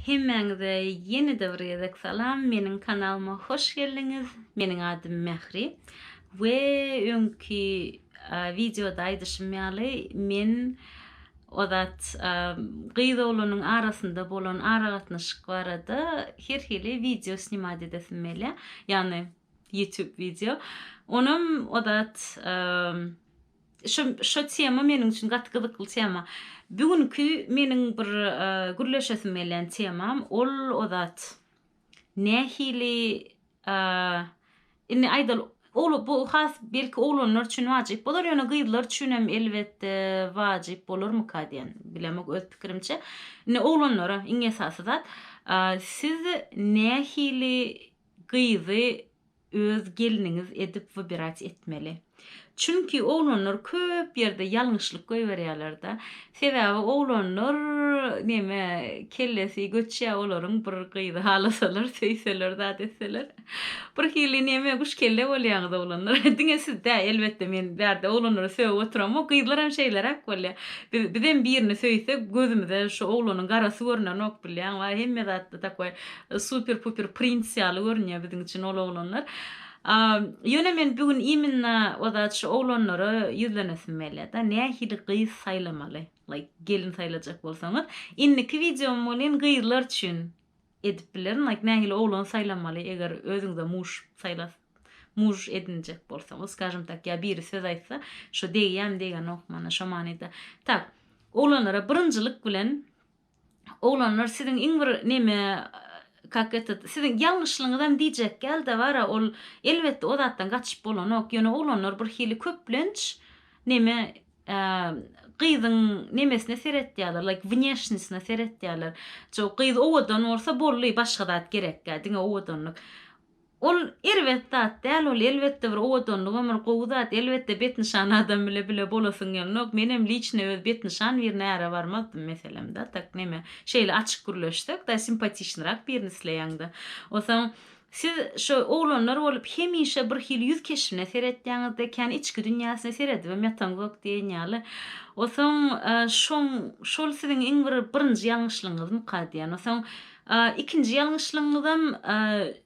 Hemmäňize ýene-de bir gezek salam, meniň kanalyma hoş geldiňiz, meniň adym Mähri we öňki wideoda aýdyşym ýaly men ozat gyz oglanyň arasynda bolan aragatnaşyk barada her hili wideo snimat edesim gelýär, ýagny ýutub wideo, onam ozat Şu şu tema meniň üçin gaty gyzykly tema. Bu günki meniň bir gürleşesim gelýän temam ol o zat nähili indi aýdaly ogla bu has belki oglanlar üçin wajyp bolar ýöne gyzlar üçin hem elbetde wajyp bolarmyka diýen bilemok öz pikirimçe. Indi oglanlara iň esasy zat siz nähili gyzy öz gelniňiz edip wybirać etmeli. Çünki oglanlar köp ýerde ýalňyşlyk goýberýärlerde. Sebäbi oglanlar neme kellesi göçýä olaryň bir gyzy halasalar söýseler zat etseler. Bir hili neme guş kelle bolýaňyz oglanlar. Diňe siz dä elbetde men bärde oglanlary sögüp oturamok gyzlar hem şeýleräk bolýa. Biz bizem birini söýsek gözümize şu oglanyň garasy görnenok bilýäňba hemme zatda takoý Super puper princ ýaly görünýär biziň üçin ol oglanlar. Ýöne men bu gün iminna o zat şu oglanlara ýüzlenesim gelýärda. Nähili gyz saýlamaly? Like gelin saýlajak bolsaňyz. Indiki wideom welin gyzlar üçin edip bilerin. Like nähili oglan saýlamaly eger özüňize muž saýlas muž edinjek bolsaňyz. Skažem tak ýa biri söz aýtsa şu degýämi degenok mana şo manyda. Tak. Oglanlara birinjilik bilen Oglanlar siziň iň bir neme kak etet siziň ýalňyşlygyňyzam diýjek dälda bara ol elbetde o zatdan gaçyp bolanok ýöne oglanlar bir hili köplenç neme gyzyň nemesine seretýärler like wneşnisine seretýärler gyz owadan bolsa bolly başga zat gerekdä diňe owadanlyk Ol erbet zat däl ol elbetde bir owadanlyk ömür gowy zat elbetde betnyşan adam bile bile bolasyň gelnok menem liçny öz betnyşan birine äre barmazdym meselem da tak neme şeýle açyk gürleşsek da simpatiçnyrak birini isleýäň da osaň siz şo oglanlar bolup hemişe bir hili ýüz keşbine seretýäňiz de kän içki dünýäsine seredibem ýataňzok diýen ýaly osaň şoň şol siziň iň bir birinji ýalňyşlygyňyzmyka diýen osaň A ikinji ýalňyşlygyňyzam a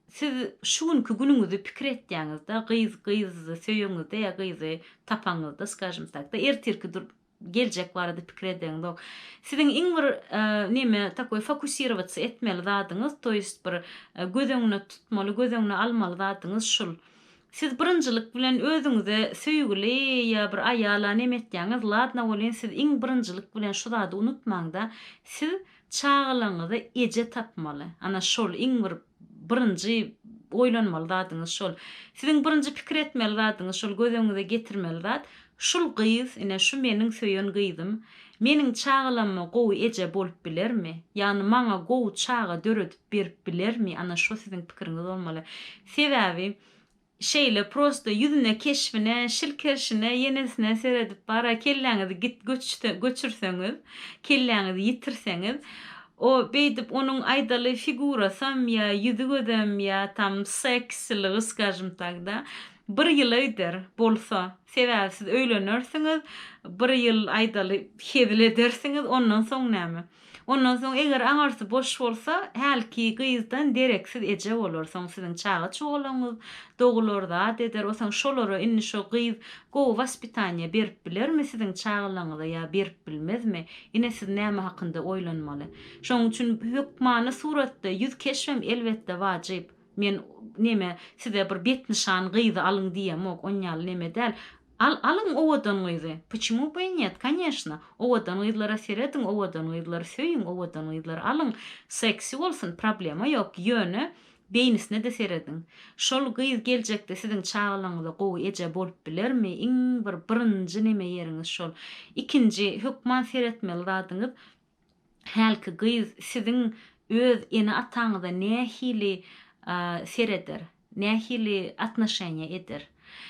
siz şu günki günüňizi pikir etýäňizde gyz gyzy söýeňizde ýa gyzy tapaňyzda skažem takda ertirki dur geljek barada pikir edeňizok siziň iň bir a neme takoý fokusirowatsy etmeli zadyňyz to ýest bir göz öňüne tutmaly göz öňüne almaly zadyňyz şul siz birinjilik bilen özüňize söýgüli ýa bir aýala neme etýäňiz ladna welin siz iň birinjilik bilen şu zady unutmaňda siz Çagalaňyza eje tapmaly. Ana şol iň bir birinji oýlanmaly zadyňyz şol. Siziň birinji pikir etmeli zadyňyz şol göz öňüňize getirmeli zat, şul gyz, ine şu meniň söýen gyzym, meniň çagalamma gowy eje bolup bilermi? Ýagny maňa gowy çaga döredip berip bilermi? Ana şo siziň pikiriňiz bolmaly. Sebäbi Şeýle prosta ýüzüne keşbine şilkerşine ýenesine seredip bara kelläňizi git göçse göçürseňiz kelläňizi ýitirseňiz o beýdip onuň aýdaly figurasam ýa ýüzi gözem ýa tam seksiligy skažem tak da bir ýyla gider bolsa sebäbi siz öýlenersiňiz bir ýyl aýdaly hezil edersiňiz ondan soň näme Ondan soň eger aňyrsy boş bolsa, hälki gyzdan dereksiz eje bolar, soň siziň çaga çugalaňyz dogular, zat eder, o soň şolara indi şo gyz gowy waspitaniýa berip bilermi siziň çagalaňyza ýa berip bilmezmi, ine siz näme hakynda oýlanmaly. Şoň üçin hökmany suratda ýüz keşbem elbetde wajyp. Men neme size bir betnyşan gyzy alyň diýemok, onýaly neme däl. Al alyň owadan gyzy. Pçmu by net kanyeshna owadan gyzlara serediň owadan gyzlary söýüň owadan gyzlary alyň seksi bolsun problema ýok ýöne beýnisine-de serediň şol gyz geljekde siziň çagalaňyza gowy eje bolup bilermi iň bir birinji neme ýeriňiz şol ikinji hökman seretmeli zadyňyz hälki gyz siziň öz ene-ataňyza nähili sereder, nähili atnoşeniýa eder?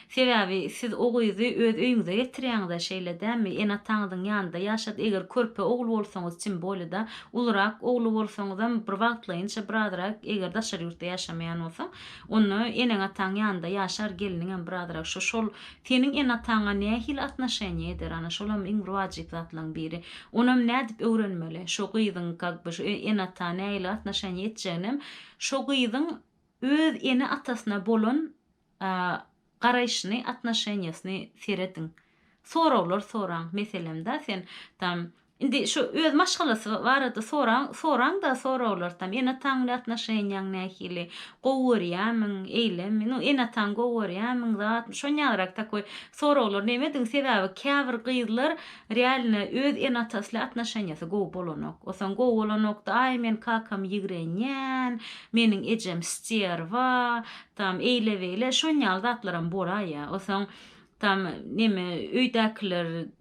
Sebäbi siz o gyzy öz öýüňize getirýäňiz-ä, şeýle dälmi? Ene-ataňyzyň ýanynda ýaşat, eger körpe ogul bolsaňyz tim bolida, ulurak ogly bolsaňyzam bir wagtlaýynça birazrak, eger daşary ýurtda ýaşamaýan bolsaň, onda eneň-ataň ýanynda ýaşar, gelniňem birazrak şo-şol Seniň enataňa nähili atnoşeniýa eder, ana, şolam iň wajyp zatlaryň biri. Onam nädip öwrenmeli, şo gyzyň, kak by, şo enata nähili atnoşeniýa etjeginem şo gyzyň öz ene-atasyna bolan garaýşyny, atnoşeniýasyny serediň. Soraglar soraň. Meselem-da, sen, tam, Indi şu öz maşgalasy barada soraň, soraňda soraglartam, ene-ataň bilen atnoşeniýaň nähili, gowy görýämiň, eýlemi, nu, ene-ataňy gowy görýämiň, zatmy, şonýalyrak takoý soraglar nemediň, sebäbi käbir gyzlar realno öz ene-atasy ile atnoşeniýasy gowy bolanok, osaň gowy bolanokda, aý men kakamy ýigrenýän, meniň ejem sterwa, tam, eýle-beýle, şonýaly zatlaram bolaýýar, osaň, tam, neme, öýdäkiler,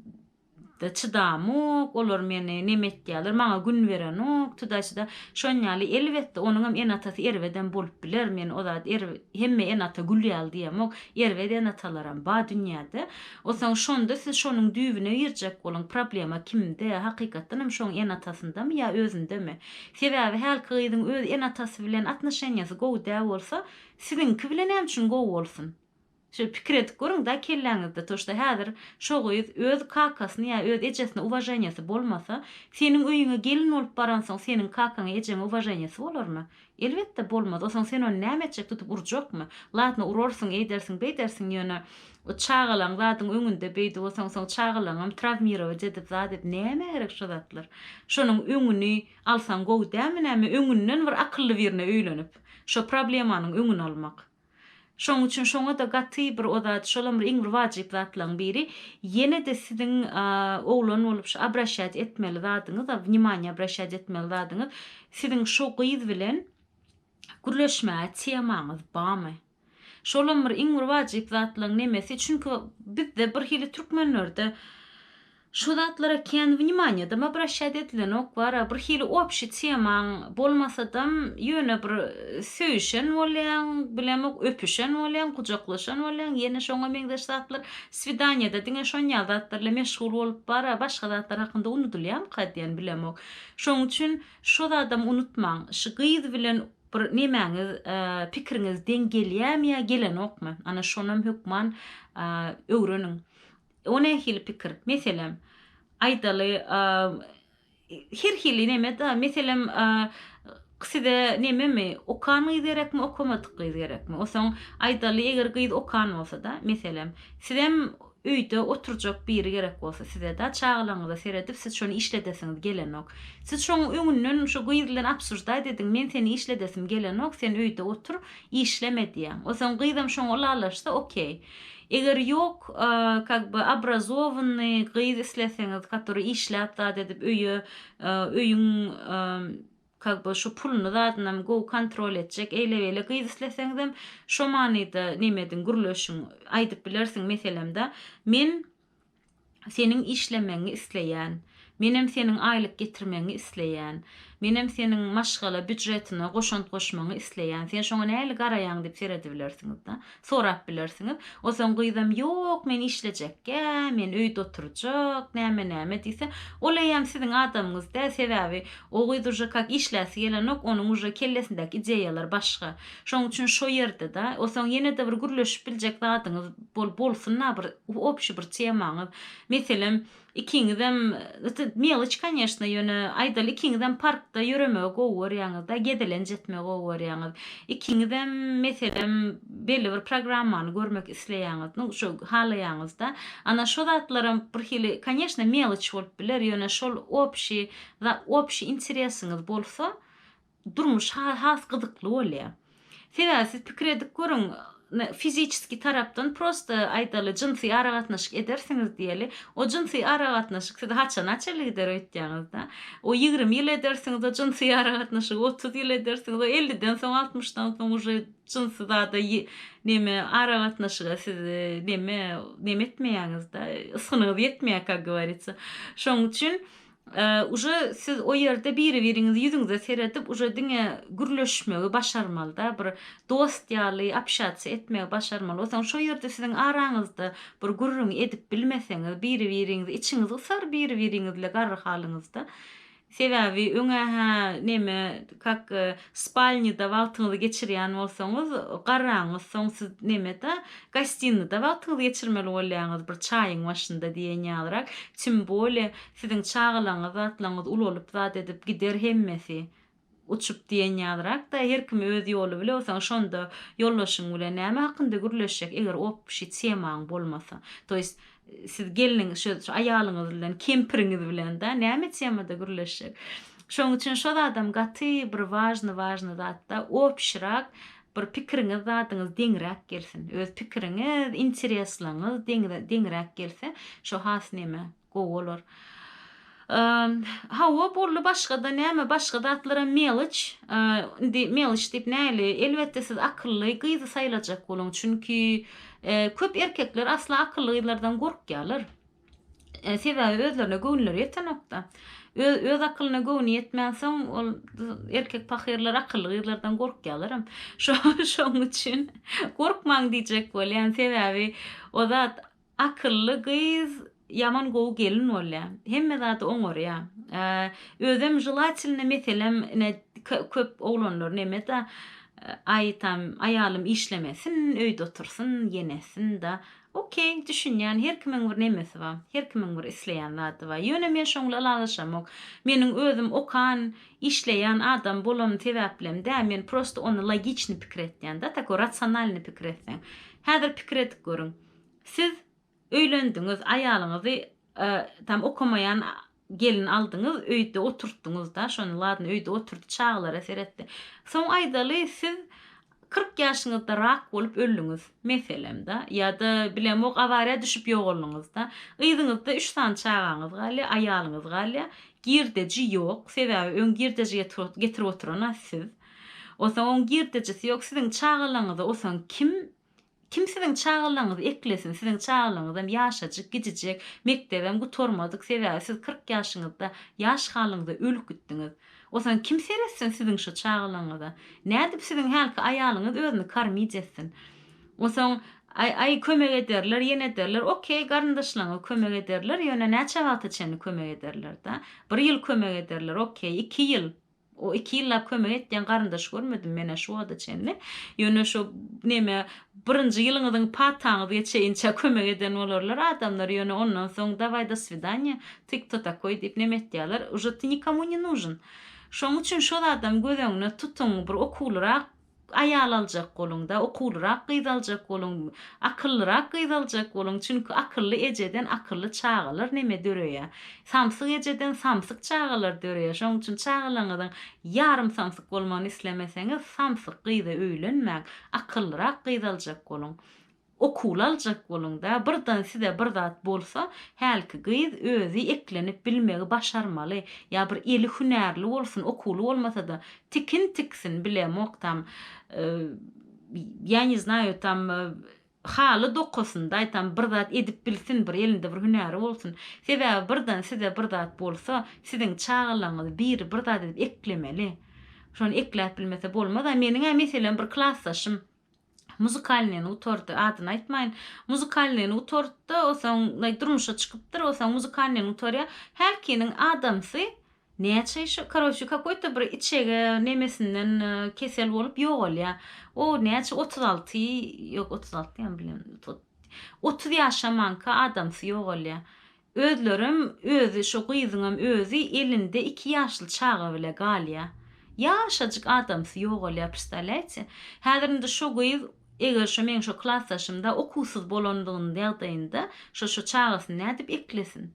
da çydamok, olar meni neme etýäler, maňa gün berenok, çydaşda şon ýaly elbetde onuňam ene-atasy erbedem bolup biler, men o zat er hemme ene-ata gül ýaly diýemok, erbet ene-atalaram ba dünýäde, osaň şonda siz şonuň düýbüne girjek boluň, problema kimde, hakykatdanam şoň ene-atasyndamy ýa özündemi, sebäbi hälki gyzyň öz ene-atasy bilen atnoşenýasy gowy dä bolsa, siziňki bilen näme üçin gowy bolsun? Şeýle pikir edip görüň-dä kelläňizde, to şda häzir şo gyz öz kakasyny ýa öz ejesine uwaženiýasy bolmasa, seniň öýüňe gelin bolup baransoň seniň kakaňa, ejeňe uwaženiýasy bolarmy? Elbetde, bolmaz. Onsoň sen ony näme etjek, tutup urjakmy? Ladno, urarsyň, eýdersiň, beýdersiň, ýöne çagalaň zadyň öňünde beýdip osaň, soň çagalaňam trawmirować edip zat edip, nämä gerek şo zatlar? Şonuň öňüni alsaň gowy dälmi näme, öňünden bir akylly birine öýlenip, şo problemanyň öňüni almak. Şonuň üçin şoňa-da gaty bir o zat, şolam bir iň bir wajyp zatlaň biri. Ýene-de siziň oglan bolup şu abraşýat etmeli zadyňyz, a wnimaniýa abraşýat etmeli zadyňyz, siziň şo gyz bilen gürleşmäge temaňyz bamy? Şolam bir iň bir wajyp zatlaň nemesi, çünki bizde birhili türkmenlerde Şu zatlara kän wnimanýadam obraşýat edilenok wara bir hili opşi temaň bolmasadam ýöne bir söýüşen bolýaň bilemok öpüşen bolýaň gujaklaşan bolýaň ýene şoňa meňzeş zatlar swidanýada diňe şonýal zatlar ile meşgul bolup wara başga zatlar hakynda unudylýamyka diýen bilemok şoň üçin şo zadam unutmaň şy gyz bilen bir nemäňiz pikiriňiz deň gelýämi ýa gelenokmy ana şonam hökman öwreniň. O nähili pikir? Meselem, aýdaly, her hili neme-da, meselem, size nememi, okan gyz gerekmi, okamadyk gyz gerekmi? Osaň, aýdaly, eger gyz okan bolsa-da, meselem, sizem öýde oturjak biri gerek bolsa size-da, çagalaryňyza seredip, siz şony işledesiňiz gelenok. Siz şoň öňünden şu gyz bilen obsuždaýt ediň, men seni işledesim gelenok, sen öýde otur, işleme diýäň. Osaň gyzam şoňa ylalaşsa, okey. Eger ýok kak by obrazowanyy gyz isleseňiz katory işläp zat edip öýe öýüň kak by şu puluny zadynam gowy kontrol etjek eýle beýle gyz isleseňizem şo manyda neme ediň gürleşiň aýdyp bilersiň meselemda men Seniň işlemegiňi isleýän. Menem seniň aýlyk getirmegiňi isleýän. Menem seniň maşgala býudjetine goşant goşmagyňy isleýän. Sen şoňa nähili garaýaň diýip seredibilersiňiz-de. Sorap bilersiňiz. Onsoň gyzam ýok, men işlejekkä, men öýde oturjak, näme-näme diýse, ol eýýäm siziň adamyňyz däl, sebäbi o gyz uje kak işläsi gelenok, onuň uje kellesindäki ideýalar başga. Şoň üçin şo ýerde-de, osaň ýene-de bir gürleşip biljek zadyňyz bol bolsun-a bir opşi bir temaňyz. Meselem, ikiňizem, yti meliç, kanyýeşna, ýöne aýdaly ikiňizem parkda ýöremegi gowy görýäňiz-de, gezelenç etmegi gowy görýäňiz. Ikiňizem, meselem, belli bir programmany görmek isleýäňiz, nu, şo halaýaňyz-da. Ana, şo zatlaram bir hili, kanyýeşna, meliç bolup biler, ýöne şol opşi za, opşi interesiňiz bolsa, Durmuş has gyzykly bolýar. Sebäbi siz pikir edip görüň, fiziçeskiý tarapdan prosta aýdaly jynsy aragatnaşyk edersiňiz diýeli, o jynsy aragatnaşyk sizi haçana çenli gider öýtýäňizda? O ýigrimi ýyl edersiňiz o jynsy aragatnaşygy, otuz ýyl edersiňiz, o elliden soň, altmyşdan soň uje jynsy zada neme aragatnaşyga siz neme neme etmeýäňizda, ysgynyňyz ýetmeýär kak gowarýsa. Şoň üçin Uje siz o ýerde biri biriňizi ýüzüňize seredip uje diňe gürleşmegi başarmalyda bir dost ýaly apşatsiýa etmegi başarmaly osaň şo ýerde siziň araňyzda bir gürrüň edip bilmeseňiz biri biriňizi içiňiz gysar biri biriňizle garry halyňyzda sebäbi öňe hä neme kak Spalnyda wagtyňyzy geçirýän bolsaňyz, garraňyz, soň siz neme-de, gostinada wagtyňyzy geçirmeli bolýaňyz, bir çaýyň başynda diýen ýalyrak. Tim bole, siziň çagalaňyz, zatlaňyz ulalyp zat edip gider hemmesi, uçup diýen ýalyrak-da, her kim öz ýoly bile, soň şonda ýoldaşyň bilen näme hakynda gürleşjek, eger opşi temaň bolmasa. To ýest, Siz gelniňiz şo şo aýalyňyz bilen, kempiriňiz bilen-dä näme temada gürleşjek? Şoň üçin şo zadam gaty bir wažny wažny zat-da, obşirak bir pikiriňiz zadyňyz deňräk gelsin. Öz pikiriňiz, intereslaňyz deňze deňräk gelse, şo has neme, gowy bolar. Hawa, boldy, başga-da näme, başga zatlaram meloç. Indi meloç diýip näli, elbetde siz akylly gyzy saýlajak boluň. Çünki köp erkekler asla akylly gyzlardan gorkýarlar. Sebäbi özlerine göwünleri ýetenok-da. Öz akylyna göwni ýetmänsoň, ol erkek pahyrlar akylly gyzlardan gorkýarlaram. Şonuň üçin gorkmaň diýjek bolýan. Sebäbi o zat Akylly gyz ýaman gowy gelin bolýa. Hemme zady oňarýa. Özem jylaçilny meselem ine köp oglanlar neme da aý tam aýalym işlemesin öýde otursyn ýenesin da ok düşünýän her kimiň bir nemesi ba her kimiň bir isleýän zady ba ýöne men şoň bilen ylalaşamok meniň özüm okan işleýän adam bolanym sebäplem dä men prosto ony logiçny pikir etýän da tako rasionalny pikir etseň häzir pikir edip görüň. Siz öýlendiňiz, aýalyňyzy tam okamaýan gelin aldyňyz, öýde oturtdyňyz-da, şony ladno öýde oturdy, çagalara seretdi. Soň aýdaly siz kyrk ýaşyňyzda rak bolup öldüňiz, meselem-da, ýa-da bilemok awariýa düşüp ýogalnyňyz-da. Yzyňyzda üç sany çagaňyz galýar, aýalyňyz galýar. Girdeji ýok, sebäbi öň girdeji getirip oturan-a siz. Onsoň oň girdejisi ýok, siziň çagalaňyzy onsoň kim Kim siziň çagalaryňyzy eklesin, siziň çagalaryňyzam ýaşajyk, gidijek, mekdebem gutarmadyk, sebäbi siz kyrk ýaşyňyzda, ýaş halyňyzda ölüp gitdiňiz. Osaň kim seretsin siziň şo çagalaryňyza? Nädip siziň hälki aýalyňyz özüni kormit etsin? Osaň, aý, aý, kömek ederler, ýene ederler, okey, garyndaşlaryňyz kömek ederler, ýöne näçe wagta çenli kömek ederler-da? Bir ýyl kömek ederler, okey, iki ýyl, O iki ýyllap kömek etýän garyndaş görmedim menä şu wagta çenli. Ýöne şu neme birinji ýylyňyzyň pataňyzga çeýinçä kömek eden bolarlar adamlar ýöne ondan soň daway do swidanýa ty kto takoý diýip neme etýärler uje ty nikomu ne nužn. Şoň üçin şo zadam göz öňüne tutuň bir okuwlyrak Aýal aljak boluň-da, okuwlyrak gyz aljak boluň, akyllyrak gyz aljak boluň, çünki akylly ejeden akylly çagalar neme döreýär. Samsyk ejeden samsyk çagalar döreýär. Şonuň üçin çagalaryňyzyň ýarym samsyk bolmagyny islemeseňiz, samsyk gyza öýlenmäň, akyllyrak gyz aljak boluň. Okuly aljak boluňda, birden size bir zat bolsa, hälki gyz özi eklenip bilmegi başarmaly, ýa bir eli hünärli bolsun, okuly bolmasa-da, tikin tiksin, bilemok tam, ýa ne znaýo tam, haly dokasyn, daýtam bir zat edip bilsin, bir elinde bir hünäri bolsun. Sebäbi birden size bir zat bolsa, siziň çagalaryňyzy biri bir zat edip eklemeli. Şony ekläp bilmese bolmaz-a. Meniň-ä meselem bir klasdaşym, Muzykalnyýny gutardy. Adyny aýtmaýyn. Muzykalnyýny gutarddy, osaň naý durmuşa çykypdyr, osaň muzykalnyýny gutarýar. Hälkiniň adamsy näçe şo, karoçe, kakoý-to bir içege nemesinden kesel bolup ýogalýar. O näçe otuz alty, ýok otuz alty ýaňy bilem, otuz ýaşamanka adamsy ýogalýar. Özlerem özi şo gyzyňam özi elinde iki ýaşly çaga bile galýa. Ýaşajyk adamsy ýogalýa prstawlýaýte. Häzir indi şo gyz eger şo meň şo klasdaşymda okuwsyz bolandygyny ýagdaýynda şo şo çagasyny nädip eklesin.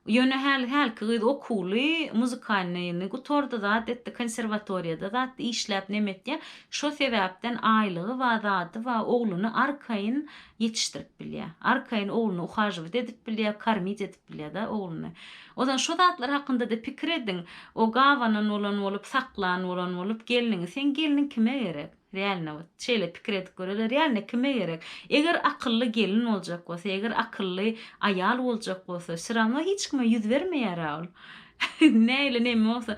Ýöne häli hälki gyz okuwly muzykalnyny gutardy zat etdi konserwatoriýada zat işläp nemetýa şo sebäpden aýlygy ba zady ba ogluny arkaýyn ýetişdirip bilýär. Arkaýyn ogluny uhažowat edip bilýär, kormit edip bilýär-de ogluny. O zaman şo zatlar hakynda-da pikir ediň. O gabanan bolan bolup, saklan bolan bolup, gelniňi, seň gelniň kime gerek? Realno wot, şeýle pikir edip göreli, realno kime gerek? Eger akylly gelin boljak bolsa, eger akylly aýal boljak bolsa, syrama hiç kime ýüz bermeýär-ä ol. Nähili neme bolsa,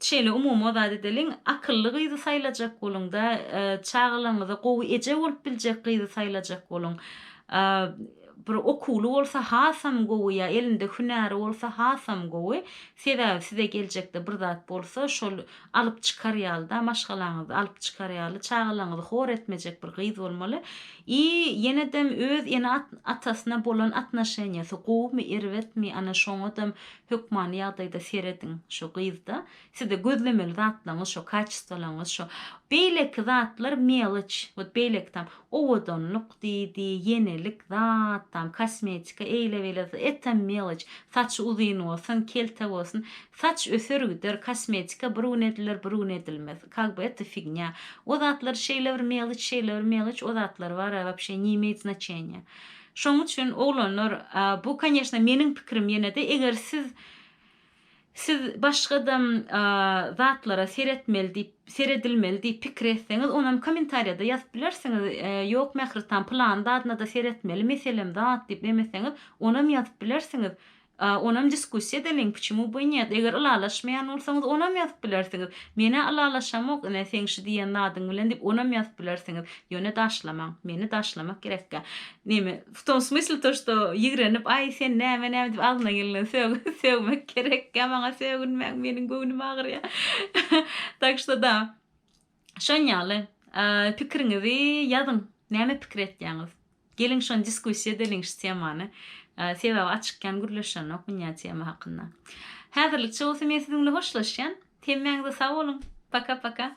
Şeýle umumy o zat edeliň, akylly gyzy saýlajak boluň-da, çagalaryňyza gowy eje bolup biljek gyzy saýlajak boluň. Bir okuwly bolsa hasam gowy ýa elinde hünäri bolsa hasam gowy. Sebäbi size geljekde bir zat bolsa, şol alyp çykar ýaly-da, maşgalaňyzy alyp çykar ýaly, çagalaryňyzy hor etmejek bir gyz bolmaly. I ýene-dem öz ene-atasyna bolan atnaşeniýasy gowumy, erbetmi, ana şoňadam Hökmany ýagdaýda serediň şo gyzda sizde gözlemeli zatlaňyz şo kaçestwalaňyz şo beýleki zatlar meloç wot beýleki tam owadanlyk diýdi ýenelik zat tam kosmetika eýle beýle etam meloç saçy uzyn bolsun kelte bolsun saç öser gider kosmetika bir gün ediler bir gün edilmez kag by eto fignya o zatlar şeýle bir meloç şeýle bir meloç o zatlar bara wapşe ni imeýt znaçenýa Şoň üçin oglanlar bu koneşna meniň pikirim ýenede eger siz siz başgada zatlara seretmeli diýip seredilmeli diýip pikir etseňiz onam komentariýada ýazyp bilersiňiz ýok Mähritan pylany zadyna-da seretmeli meselem zat diýip nemeseňiz onam ýazyp bilersiňiz A onam diskussiýa edeliň, pçemu by nýet, eger ylalaşmaýan bolsaňyz onam ýazyp bilersiňiz. Menä ylalaşamok ine seň şu diýen zadyň bilen diýip onam ýazyp bilersiňiz. Ýöne daşlamaň. Meni daşlamak gerekkä. Neme, w tom smysle to što ýigrenip aý sen näme näme diýip agzyna gelenden sög sögmek gerekkä maňa sögünmäň meniň göwnüm agyrýa. Tak što da. Şoň ýaly. Pikiriňizi ýazyň. Näme pikir etýäňiz? Geliň şony diskussiýa edeliň şu temany. Sebäbi açyk kän gürleşenok ynja tema hakynda. Häzirlikçe bolsa men siziň bilen hoşlaşýan. Hemmäňize sag boluň. Paka paka.